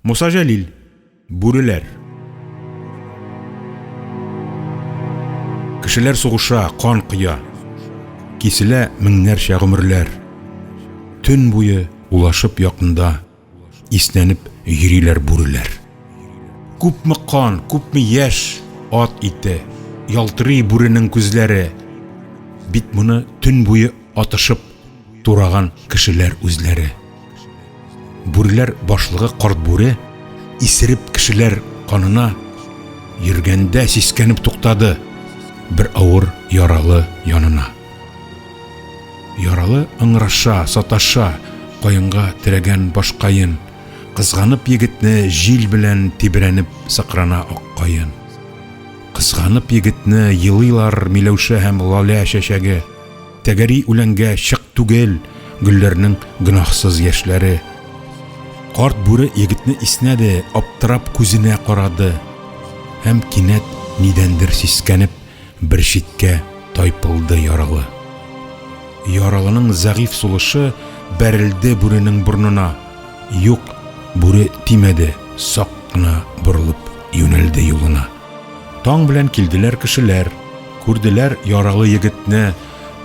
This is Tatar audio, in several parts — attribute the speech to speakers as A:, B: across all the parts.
A: Муса Җәлил. Бүреләр. Кешеләр сугыша, кан кыя. Киселә меңнәрчә гомерләр. Төн буе улашып якында, иснәнеп йөриләр бүреләр. Күпме кан, күпме яшь, ат ите, ялтырый бүренең күзләре. Бит моны төн буе атышып тураган кешеләр үзләре. Бүреләр башлыгы карт бүре исереп кешеләр канына йөргәндә сискәнеп туктады бер авыр яралы янына. Яралы ыңраша, саташа, каенга терәгән башкаен, кызганып егетне җил белән тибрәнеп сыкрана аккаен. Кызганып егетне елыйлар Миләүшә һәм Лалә чәчәге. Тәгәри үләнгә чык түгел гөлләрнең гөнаһсыз яшьләре. Карт бүре егетне иснәде, аптырап күзенә карады һәм кинәт нидәндер сискәнеп, бер читкә тайпылды яралы. Яралының зәгыйф сулышы бәрелде бүренең борнына. Юк, бүре тимәде, сак кына борылып юнәлде юлына. Таң белән килделәр кешеләр, күрделәр яралы егетне,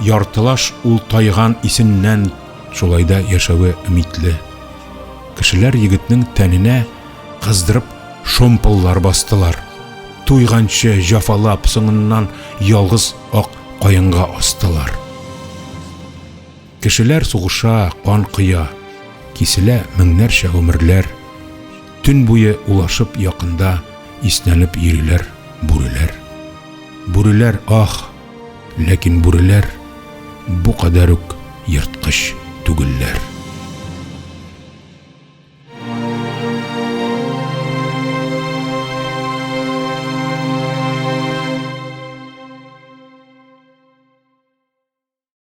A: яртылаш ул тайган исеннән. Шулай да яшәве өмитле. Кешеләр егетнең тәненә кыздырып шомпыллар бастылар. Туйганчы җафалап, соңыннан ялгыз ак каенга астылар. Кешеләр сугыша, кан коя, Киселә меңнәрчә гомерләр. Төн буе улашып якында Иснәнеп йөриләр бүреләр. Бүреләр, ах! Ләкин бүреләр Бу кадәр үк ерткыч түгелләр.